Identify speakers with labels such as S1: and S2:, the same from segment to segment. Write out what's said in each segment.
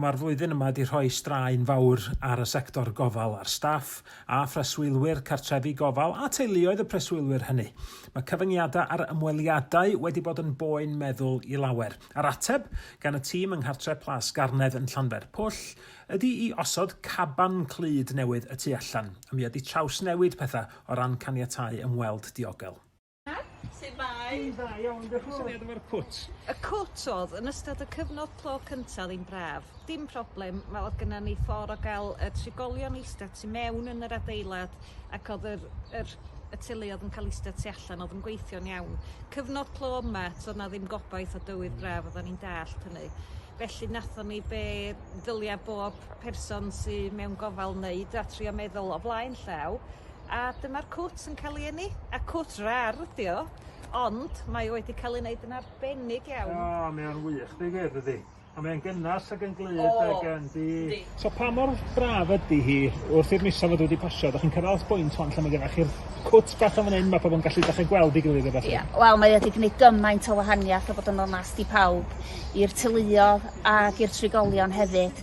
S1: Mae'r flwyddyn yma wedi rhoi straen fawr ar y sector gofal, ar staff a phreswylwyr cartrefi gofal a teuluoedd y preswylwyr hynny. Mae cyfyngiadau ar ymweliadau wedi bod yn boen meddwl i lawer. A'r ateb gan y tîm yng Nghartre Plas Garnedd yn Llanfair Pwll ydi i osod caban clyd newydd y tu allan, a mi ydi trawsnewid pethau o ran caniatáu ymweld diogel. Su' mae? Dwi'n dda
S2: iawn,
S1: dioch y fowr. Isio fi adal fo'r cwt? Y cwt odd
S2: yn ystod y cyfnod clo cynta odd 'i'n braf. Dim problem, ma' odd gynna ni ffor o ga'l y trigolion ista tu mewn yn yr adeilad ac odd yr yr y teuluodd yn ca'l ista tu allan odd yn gweithio'n iawn. Cyfnod clo yma to'dd 'na ddim gobaith o dywydd braf oddan ni'n dallt hynny. Felly nathon ni be' ddylia bob person sy mewn gofal neud a trio meddwl o flaen llaw A dyma'r cwt yn ca'l 'i eni. A cwt rar ydi o ond mae o wedi ca'l ei neud yn arbennig iawn. O mae o'n wych
S1: deu gwir dydi? A mae e'n gynnes ag yn glyd ag yn yndi? Yndi. So pa mor braf ydi hi wrth i'r misoedd fod wedi pasio 'dach chi'n cyrradd at bwynt ŵan lle ma' gynnoch chi'r cwt bach yn fan 'yn ma' pobol yn gallu dechre gweld 'i gilydd a ballu? Ia wel mae o 'di gneud
S3: gymaint o wahaniath a bod yn onast i pawb i'r teuluodd ag i'r trigolion hefyd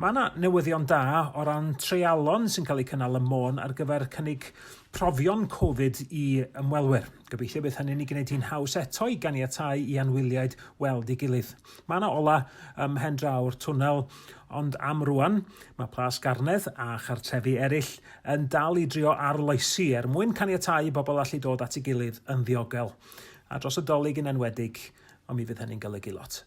S1: Mae yna newyddion da o ran treialon sy'n cael eu cynnal ym Môn ar gyfer cynnig profion Covid i ymwelwyr. Gobeithio bydd hynny'n ei gwneud hi'n haws eto i ganiatáu i anwyliaid weld ei gilydd. Mae yna ola ym mhen draw'r twnnel, ond am rwan, mae Plas Garnedd a chartrefi eraill yn dal i drio arloesi er mwyn caniatáu i bobl allu dod at ei gilydd yn ddiogel. A dros y Dolig yn enwedig, ond mi fydd hynny'n golygu lot.